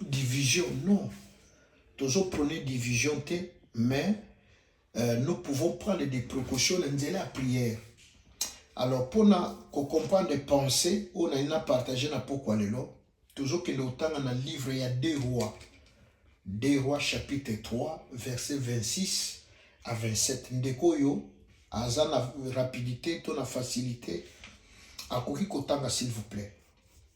division non tozo prône division te mais euh, nous pouvons prendre des précautions na nzela ya prière alors mpona kocomprendre pensée oyo nali na partage na pokwa lelo tozokende kotanga na livre ya deux rois deux rois chapitre 3 verset 26 à 27 ndeko oyo aza na rapidité to na facilité akoki kotanga s'il vous plaît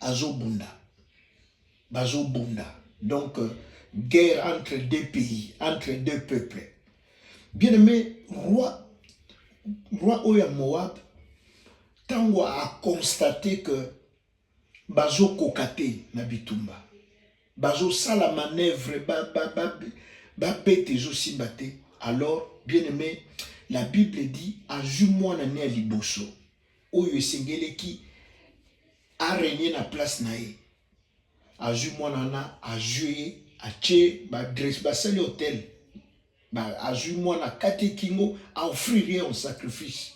azobunda bazobunda donc euh, guerre entre deux pays entre deux peuples bien aimé roi roi oyo ya moab ntango aconstate que bazokoka te na bitumba bazosala manœuvre babete ezosimba te alors bien aimé la bible dit azwi mwana ne ya liboso oyo esengeleki a régner na place na ye azwi mwana wana azwi ye atie badresse basali hotel azwi mwana kati kingo aoffrir ye en sacrifice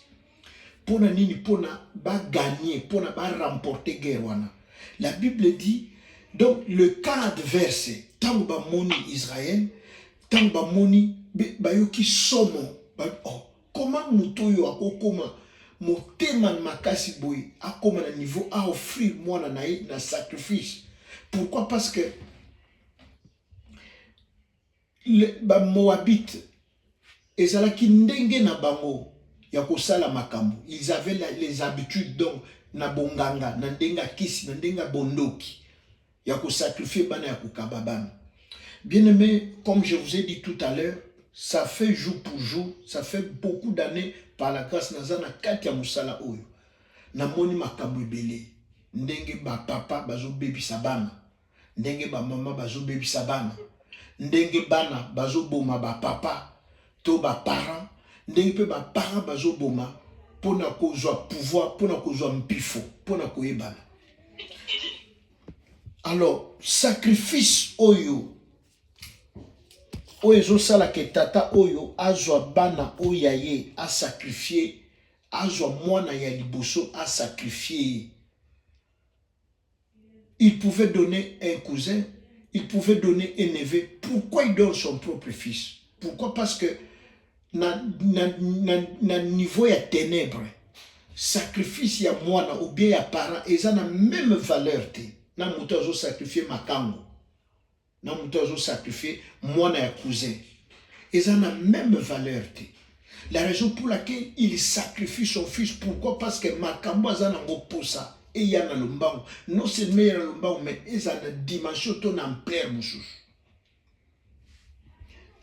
mpo na nini mpo na bagagner mpo na baremporter guerre wana la bible dit donc le cas adverse ntango bamoni israel ntango bamoni bayoki somo ba, oh, Comment moto oyo akokoma motema makasi boye akoma na niveau a offrir mwana na ye na sacrifice pourquoi parce que bamoabite ezalaki ndenge na bango ya kosala makambo ils avaient les habitudes donc na bonganga na ndenge ya kisi na ndenge ya bondoki ya ko sacrifier bana ya kokaba bana bien aimé comme je vous ai dit tout à l'heure ça fait jour pour jour ça fait beaucoup d'années par la grâce naza na kati ya mosala oyo namoni makambo ebele ndenge bapapa bazobebisa bana ndenge bamama bazobebisa bana ndenge bana bazoboma bapapa to baparent ndenge mpe baparent bazoboma mpo na kozwa pouvoir mpo na kozwa mpifo mpo na koyebana alors sacrifice oyo oyo ezosala ke tata oyo azwa bana oyo ya ye asakrifie azwa mwana ya liboso asakrifie ye il pouvait donner un cousin il pouvait donner un neveu pourquoi il donne son propre fils pourquoi parce que na, na, na, na niveau ya tenebre sacrifice ya mwana ou bien ya parent eza na meme valeur te na moto azo sacrifier makango na moto azo sacrifier mwana ya cousin eza na meme valeur te la raison pour laquelle il sacrifie son fils pourquoi parce que makambo aza nango posa eya na lombango non seulement eya na lombango mais eza na dimension to na ampleur mosusu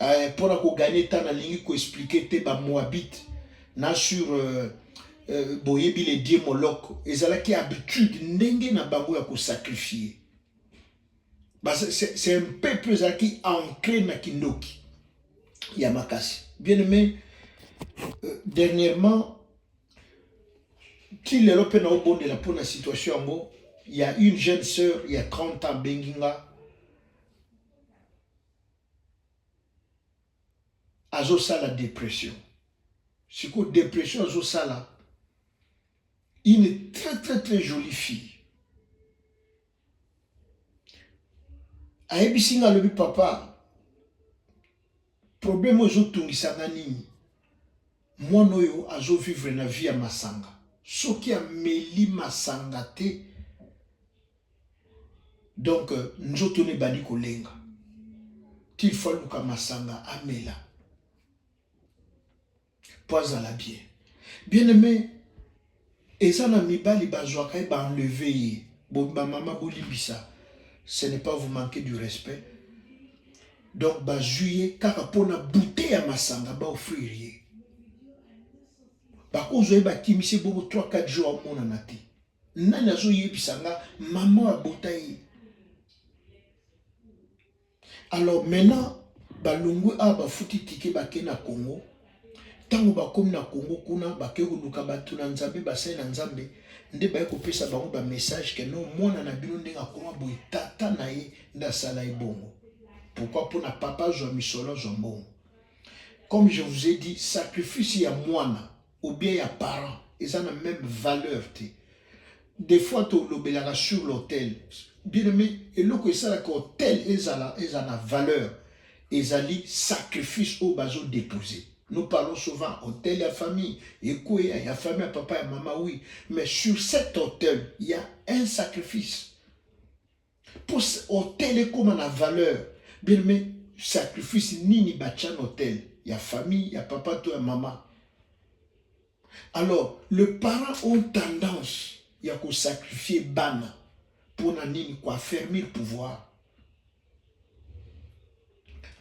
euh, mpo na koganye ntan nalingi koexplike te bamoabite na sur euh, euh, boyebi le die moloko ezalaki habitude ndenge na bango ya kosakrifie c'est un peuple ezalaki ancre na kindoki ya makasi bien aimé euh, dernièrement ti lelo mpe naobondela mpo na situation yango ya une jeune sœur ya 30 ans abengi nga azosala depression sikoyo depression azosala une très très très jolie fille ayebisi nga alobi papa problème oyo ezotungisa nga nini mwana oyo azovivre na vie ya masanga soki ameli masanga te donc euh, nzoto ne bandi kolenga qu'il faut aluka masanga amela mpo azala bien bien aimé eza na mibali bazwaka ye baenleve ye bamama bolimbisa ce n'est pas vous manquer du respect donc bazwi ye kaka mpo na bute ya masanga baofrire ye bakozwa ye bakimisi ye bongo 3 4 jours amonana te Nani azo yebisa nga maman abota ye? Alors maintenant balongwe awa bafuti tike bake na Congo ntango bakomi na Congo kuna bakei koluka bato na Nzambe basali na Nzambe nde baye kopesa bango ba message ke no mwana na bino ndenge akoma boye tata na ye nde asala ye bongo pourquoi mpona papa azwa misolo azwa mbongo comme je vous ai dit sacrifice ya mwana ou bien ya parent eza na meme valeur te des fois tolobelaka sur l'hôtel bien aimé eloko esalaka hôtel ezala ezala na valeur ezali sacrifice oyo bazo dépose nous parlons souvent hôtel ya famille ekweya ya famille ya papa ya mama oui mais sur cet hôtel il y a un sacrifice Pour hôtel ekoma na valeur. Bien mais sacrifice nini batya na hôtel ya famille ya papa to ya mama. Alors le parent ont tendance ya ko sacrifier bana pona nini ko affermir pouvoir.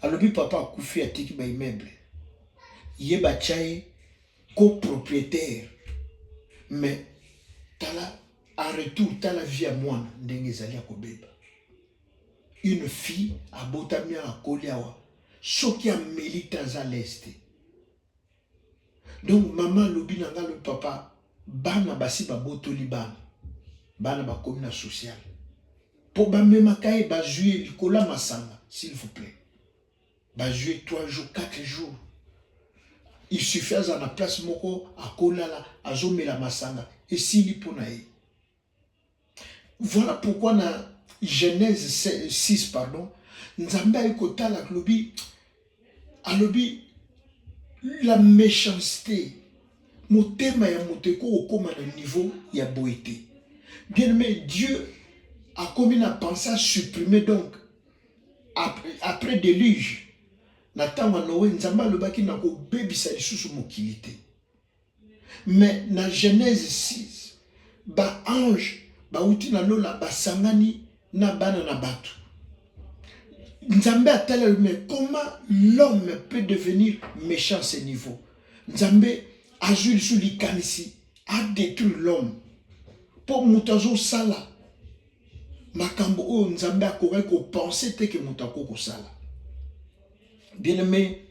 alobi papa akufi atiki ba immeuble ye batya ye copropriétaire mais tala en retour tala vie ya mwana ndenge ezali ya kobeba une fille abotami awa akoli awa soki ameli te aza leste donc mama alobi na ngai papa bana basi babotoli bana bana bakomi na social mpo bamemaka ye bazwi ye likolo ya masanga s'il vous plaît bazwi ye 3 jours 4 jours il suffit aza na place moko akolala azomela masanga esili mpo na ye Voilà pourquoi na Genèse 6 pardon, Nzambe aye kotala alobi alobi la méchanceté motema ya moto ekoki kokóma na niveau ya boye te bien aimé dieu akomi na pense a supprime donc après, après déluge na ntango ya noe nzambe alobaki na kobebisa lisusu mokili te Mais na Genèse 6, ba anges bawuti na lola basangani na bana na batu. Nzambe ataleli mais comment l'homme peut devenir méchant ce niveau? Nzambe azwi lisusu likanisi a détruire l'homme mpo moto azosala makambo oyo Nzambe akokaki kopense te ke moto akoki kosala. Bien aimé,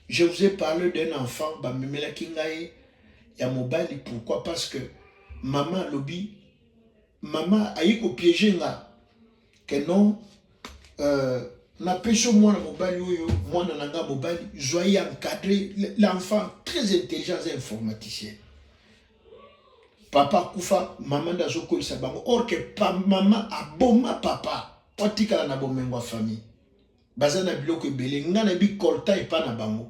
je vous ai parlé d'un enfant, bamemela kingaye, ya mobali, pourquoi Parce que maman alobi, maman ayi ko piéger nga, que non, euh, napesi mwana mobali oyo mwana na nga mobali zwa ye encadré l'enfant très intelligent aza informaticien papa akufa mama nde azokolisa bango or ke mama aboma papa po atikala na bomengo ya famille baza na biloko ebele nga na bi coltan epa na bango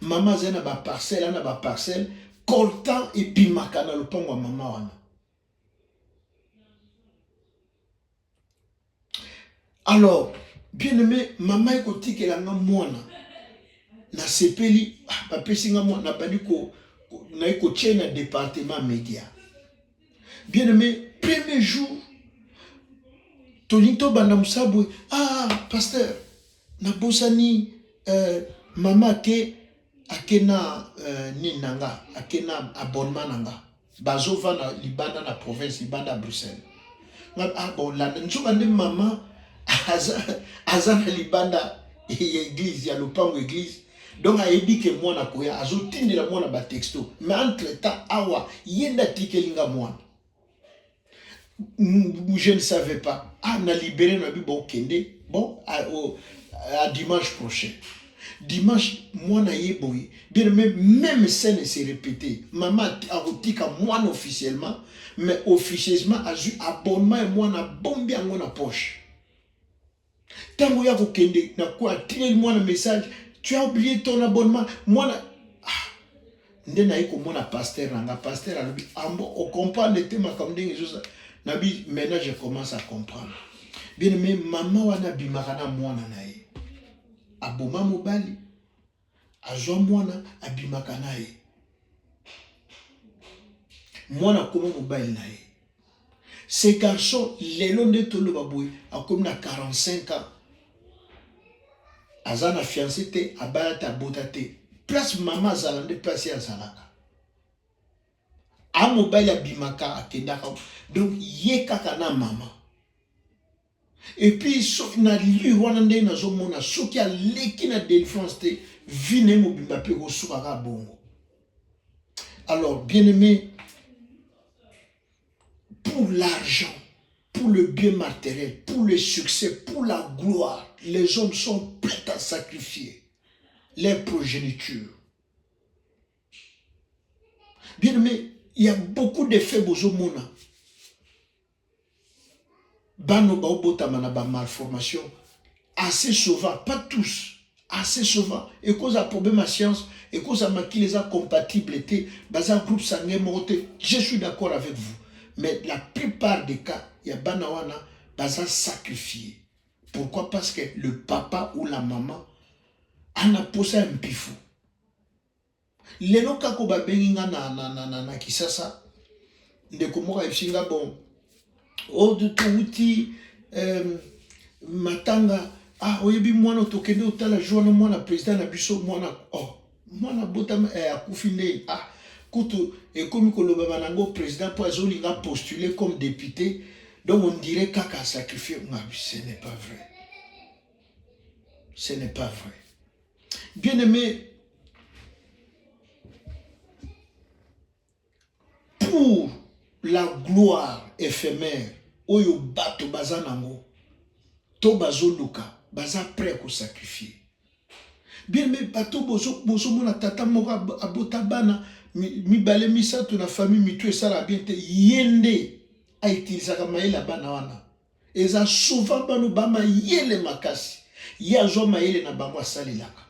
mama azali na baparcelle ana baparcelle coltan ebimaka na lopango ya mama wana alors bien aime mama ekotikela nga mwana nasepeli ah, bapesi nga mwana nabandi ko naye kotie na departement media bien aimé premier jour tolingi tobanda mosala boye ah pasteur nabosani euh, mama ake ake na euh, nini na nga ake na abonnement na nga bazovanda libanda na province libanda ya bruxelles ah bon landa nzoka nde mama aza, aza na libanda ya eglise ya lopango eglise donc ayebi ke mwana koya azotindela mwana batexto mais entre temps awa ye nde atikeli nga mwana je ne savais pas ah na libere na bi bokende bon à, ah, au, à dimanche prochain dimanche mwana ye boye bien même même scène se répéter mama akotika mwana officiellement mais officieusement azwi abonnement ya mwana bombi yango na poche Tango ya kokende na kwa atineli mwana message, tu as oublié ton abonnement. Mwana ah, nde naye komona pasteur na nga, pasteur alobi ambo ah, ocomprendre te makambo ndenge ezosa na bi maintenant je commence à comprendre. Bien aimé, mama wana abimaka na mwana na ye aboma mobali azwa mwana abimaka na ye mwana akoma mobali na ye ce garçon lelo nde toloba boye akomi na 45 ans aza na fiance te abala te abota te place mama azala nde place ye azalaka a mobali abimaka akendaka donc ye kaka na mama Et puis soki na lire wana ndenge nazomona soki aleki na délivrance te vie na ye mobimba mpe ekosuka kaka bongo alors bien aimé pour l'argent pour le bien matériel pour le succès pour la gloire les hommes sont prêts à sacrifier leur progéniture bien aimé il y a beaucoup de faits bozomona bana baobotama na ba malformation assez souvent pas tous assez souvent ekoza problème ya science ekoza makila eza compatible te baza groupe sanguin moko te je suis d'accord avec vous mais la plupart des cas ya bana wana baza sacrifié pourquoi parce que le papa ou la maman ana posa ya mpifu Lelo kako ba bengi nga na na na na, na Kisasa ndeko moko ayebisi nga bon oyo touti euh, matanga ah oyebi mwana tokende otala jour wana mwana president na biso mwana oh mwana botama eh, akufi nde ah kutu ekomi kolobama nango president mpo azolinga postule comme député donc on dirait kaka sacrifier nga ce n'est pas vrai ce n'est pas vrai Bien aimé, pour la gloire éphémère oyo bato baza nango to bazoluka baza prêt ya kosacrifie bien me bato bozomona tata moko abota bana mibale misato na famille mitu esala bien te ye nde aitilisaka mayele ya bana wana Eza souvent banu ba mayele makasi ye azwa mayele na bango asalelaka.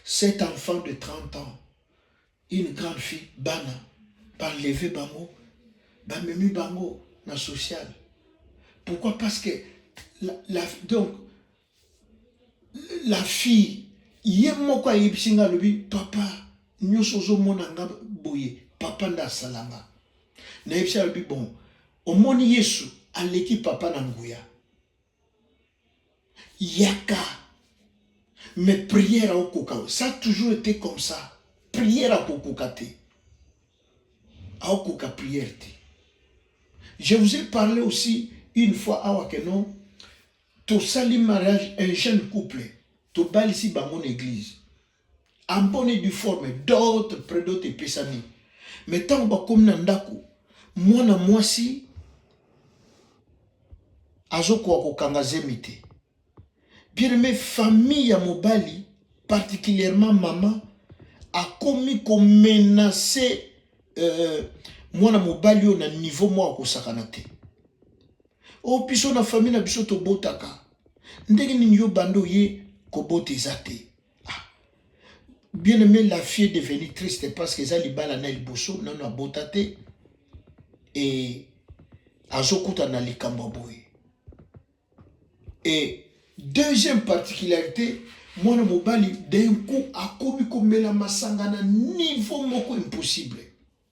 Cet enfant de 30 ans, une grande fille, bana, banleve bango, bamemi bango na social. Pourquoi Parce que la, la, donc la fille ye moko ayebisi nga alobi papa nyonso ozomona nga boye papa nde asala nga nayebisi alobi bon omoni yesu aleki papa na nguya yaka mais prière aokoka ça a toujours été comme ça prière akokoka te aokoka prière te je vous ai parlé aussi une fois awa que non Tosali mariage un jeune couple tobalisi bango na eglise en bonne et due forme d'autres près d'autres epesami mais ntango bakomi na ndako mwana mwasi azokoka kokanga zemi te bien aime famille ya mobali particulièrement mama akomi komenase euh, mwana mobali oyo na niveau moko akosakana te o oh, biso na famille na biso tobotaka ndenge nini yo banda oye kobota eza te ah. bien aimé la fille devenu triste parce que eza libala na liboso nano abota te e azokutana na likambo ya boye e deuxième particularité mwana mobali d'un coup akomi komela masanga na niveau moko impossible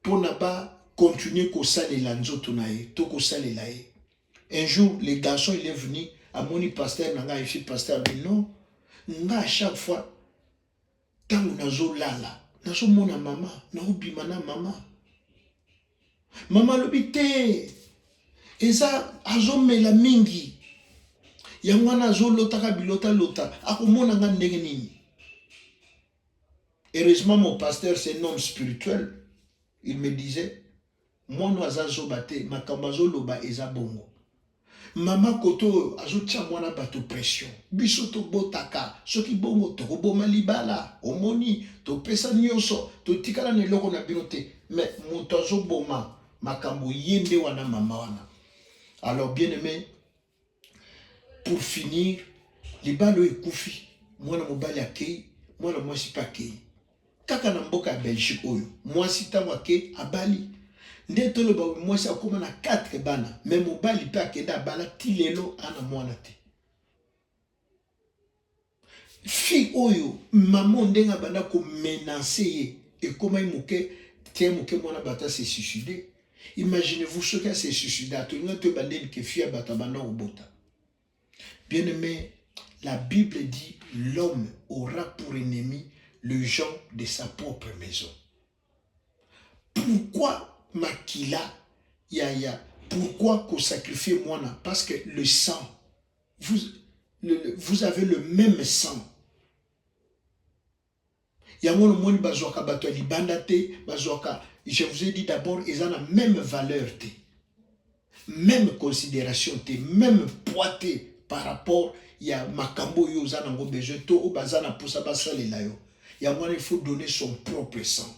mpo na ba continuer kosalela nzoto na ye to kosalela ye un jour le garçon il est venu amoni pasteur na ngai efi pasteur alobi non nga à chaque fois ntango nazolala nazomona mama naobima na mama mama alobi te eza azomela mingi yango wana azolotaka bilota lota akomona nga ndenge nini Heureusement mon pasteur c'est un homme spirituel. Il me disait mwana aza zoba te makambo azoloba eza bongo mama koto oyo azotia mwana bato pression biso tobotaka soki bongo tokoboma libala omoni topesa nyonso totikala na eloko na bino te me moto azoboma makambo ye nde wana mama wana alors bien aime pour finir libala oyo ekufi mwana mobali akei mwana mwasi mpe akei kaka na mboka ya belgique oyo mwasi ntango akei abali nde toloba mwasi akóma na 4 bana me mobali mpe akenda abala ti lelo ana mwana te Fille oyo maman ndenge abanda ko menacer ye ekomaki moke te moke mwana bata se suicider. Imaginez-vous soki a se suicida tolinga to ebandeli ke fille ya bato abanda kobota. Bien aimé, la Bible dit l'homme aura pour ennemi le gens de sa propre maison. Pourquoi makila ya ya pourquoi ko sacrifier mwana parce que le sang Vous, le, le, vous avez le même sang. yango nomoni bazwaka bato ya libanda te bazwaka je vous ai dit d'abord eza na même valeur te même considération te même poids te par rapport ya makambo oyo oza nango besoin to oyo baza na mposa basalela yo yango wana il faut donner son propre sang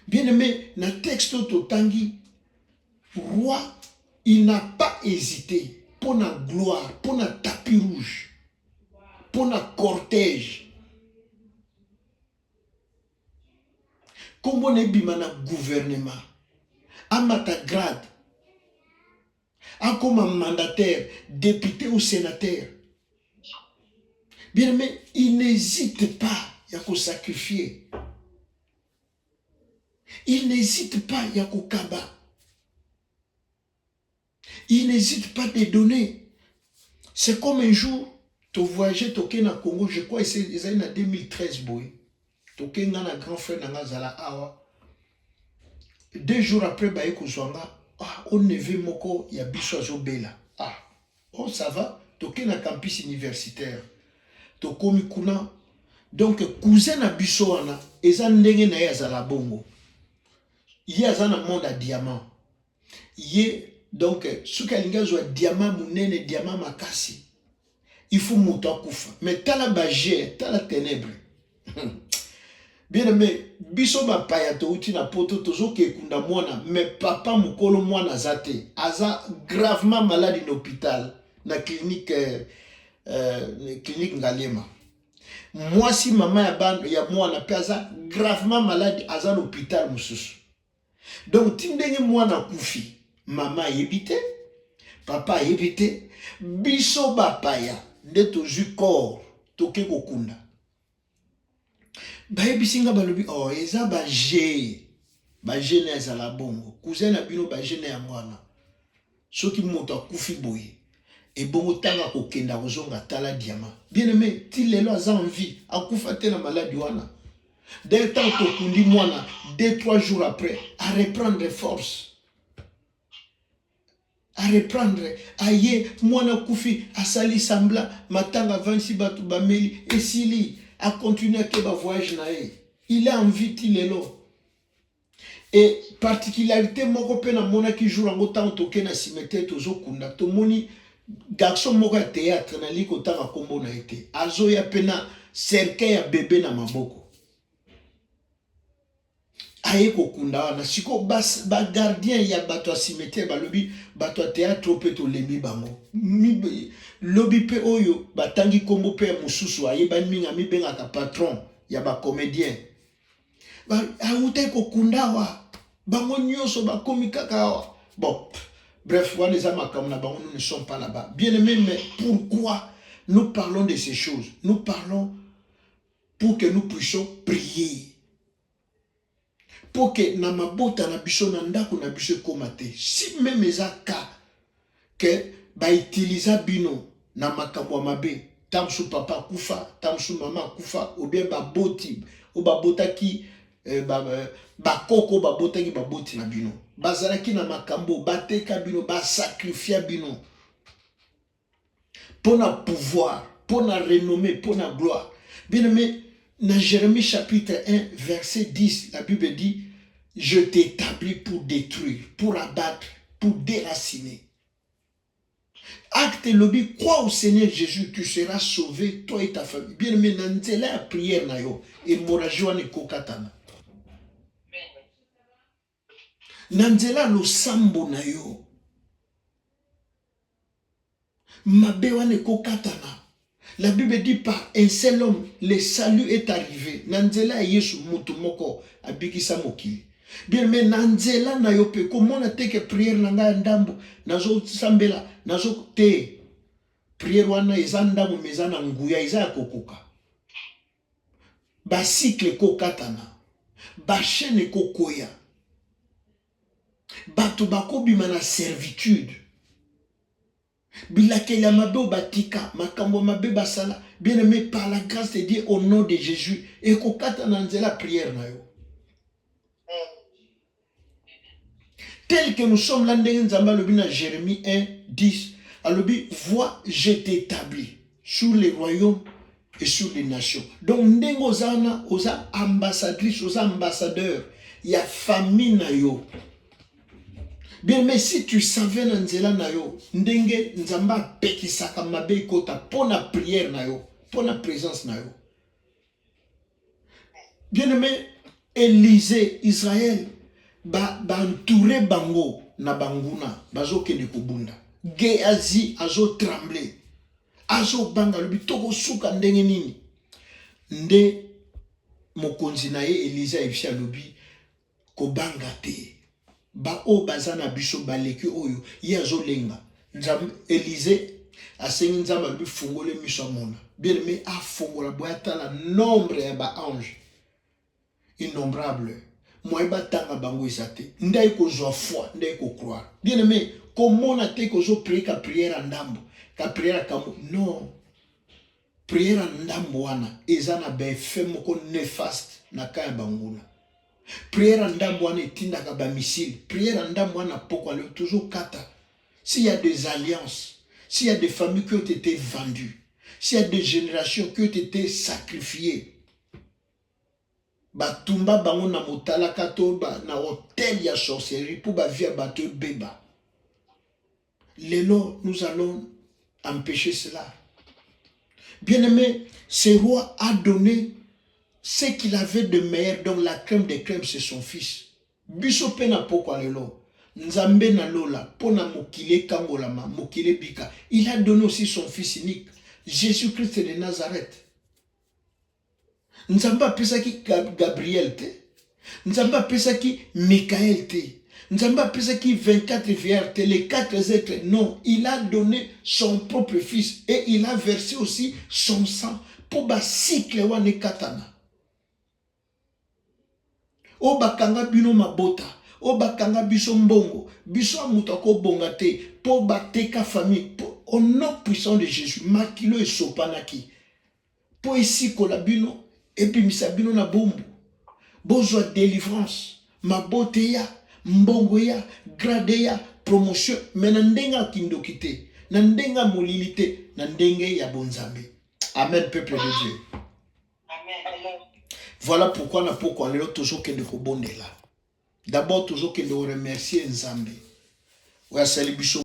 Bien aimé, na texte oyo totangi roi il n'a pas hésité mpo na gloire mpo na tapis rouge mpo na cortège nkombo na ebima na gouvernement amata grade Akoma mandataire, depute ou senateur. Bien aimé, il n'hésite pas ya ko sacrifier. Il n'hésite pas ya kokaba. Il n'hésite pas de donner. C'est comme un jour, to voyage toke na Congo, je crois ezali na 2013 boye. toke nga na grand frère na nga azala awa deux jours après baye kozwa nga ah, o neve moko ya biso azobela ah, oh ça va toke na campus universitaire tokomi kuna donc cousin na biso wana eza ndenge na ye azala bongo ye aza na monde ya diamant ye donc soki alingi azwa diama munene diama makasi il faut moto akufa mais tala bager tala tenebre bien aime biso bapaya touti na poto tozoka ekunda mwana mais papa mokolo mwana aza te aza gravement malade na hôpital na clinique euh, euh, clinique ngalema mwasi mama ya, ya mwana mpe aza gravement malade aza na hôpital mosusu donc ti ndenge mwana akufi mama ayebi te papa ayebi te biso bapaya nde tozwi corps toke kokunda bayebisi nga balobi o oh, eza baje baje na ezala bongo cousin na bino baje na yango wana soki moto akufi boye ebongo ntango akokenda akozonga tala diama bien aime ti lelo aza en vie akufa te na maladi wana dès ntango tokundi mwana deux trois jours après areprendre force areprendre aye mwana akufi asali sambla matanga avandisi bato bameli esili akontinue ake bavoyage na ye il a envie ti lelo e particularité moko mpe namonaki jour yango ntango toke na cimetière tozokunda tomoni garçon moko ya théâtre nalingi kotanga nkombo na ye te azoya mpe na cercueil ya bebe na maboko aye kokunda wana sikoyo bagardien ba ya bato ya cimetière balobi bato ya théâtre mpe tolembi bango lobi mpe oyo batangi nkombo mpe ya mosusu ayebani mingi amibengaka patron ya bacomédien awutaki kokunda awa bango nyonso bakomi kaka awa bon bref wana eza makambo na bango nous ne sommes pas là-bas bien aimé mais pourquoi nous parlons de ces choses nous parlons pour que nous puissions prier pour que na mabota na biso na ndako na biso ekoma te si meme eza cas que ba utilisa bino na makambo ya mabe ntango mosusu papa akufa ntango mosusu mama akufa ou bien baboti oyo babotaki eh, eh, bakoko oyo babotaki baboti na bino bazalaki na makambo bateka bino basakrifia bino mpo na pouvoir mpo na renome mpo na gloire bien aime na jérémie chapitre 1 verset 10 la bible dit je t'établis pour détruire pour abattre pour déraciner acte elobi crois au seigneur jésus tu seras sauvé toi et ta famille bien aime na nzela ya prière na yo hémorragie wana ekokatana Na nzela ya losambo na yo, mabe wana ekokatana. La Bible dit par un seul homme le salut est arrivé. Na nzela ya Yesu mutu moko abikisa mokili. Bien mais na nzela na yo pe komona te que prière na ngai ya ndambo nazo sambela nazo te prière wana eza ndambo mais eza na nguya eza ya kokoka. ba cycle ekokatana ba chaîne ekokwea bato bakobima na servitude bilakeli ya mabe oyo batika makambo ya mabe basala bien aimé par la grâce de dieu au nom de jésus ekokata na nzela prière na yo Tel que nous sommes là, ndenge Nzambe alobi na Jérémie 1, 10, alobi voix je t'établis sur les royaumes et sur les nations. Donc ndenge oza wana oza ambassadrice, oza ambassadeur ya famille na yo. Bien, mais si tu savais na nzela na yo ndenge Nzambe apekisaka mabe ekota mpo na prière na yo, mpo na présence na yo. bien aimé elise israel bantoure ba bango na banguna bazokende kobunda geazi azotremble azobanga lobi tokosuka ndenge nini nde mokonzi na ye elize ayebisi alobi Kobanga te. Ba oyo baza na biso baleki oyo ye azolenga. Nzambe Elize asengi Nzambe alobi fungole miso amona. Bien aimé afongola boye atala nombre ya ba ange innombrable moye batanga bango eza te nde aye kozwa foi nde aye kocroire bien aimé komona te kozo prie ka prière ya ndambo ka prière ya kambo non Prière ya ndambo wana eza na ba effet moko nefaste na cas ya banguna. Prière ya ndambo wana etindaka ba missile. Prière ya ndambo wana pokwa leo toujours kata. S'il y a des alliances, s'il y a des familles qui ont été vendues, s'il y a des générations qui ont été sacrifiées, batumba bango na motalaka to na hotel ya sorcellerie mpo bavia bato ebeba Lelo, nous allons empêcher cela. Bien-aimé, ce roi a donné ce qu'il avait de meilleur, donc la crème des crèmes, c'est son fils. Biso pe na pokwa lelo. Nzambe na lola, pona mokile kangolama, mokile bika. Il a donné aussi son fils unique, Jésus-Christ de Nazareth. nzambe apesaki gabriel te nzambe apesaki mikael te nzambe apesaki 24 vierge te les 4 êtres non il a donné son propre fils et il a versé aussi son sang mpo bacycle wana ekatana oyo bakanga bino mabota oyo bakanga biso mbongo biso ya moto akobonga te mpo bateka famille au nom puissant de jésus makilo esopanaki mpo esikola bino, ebimisa bino na boumbu, bozwa delivrance, mabota eya, mbongo eya, grade eya, promotion, me na ndenge ya kindoki te, na ndenge ya molili te, na ndenge ya bonzambe. Amen, peuple de Dieu. Amen. Voilà pourquoi na pokwa lelo tozokende kobondela. D'abord tozokende koremercier Nzambe oyo asali biso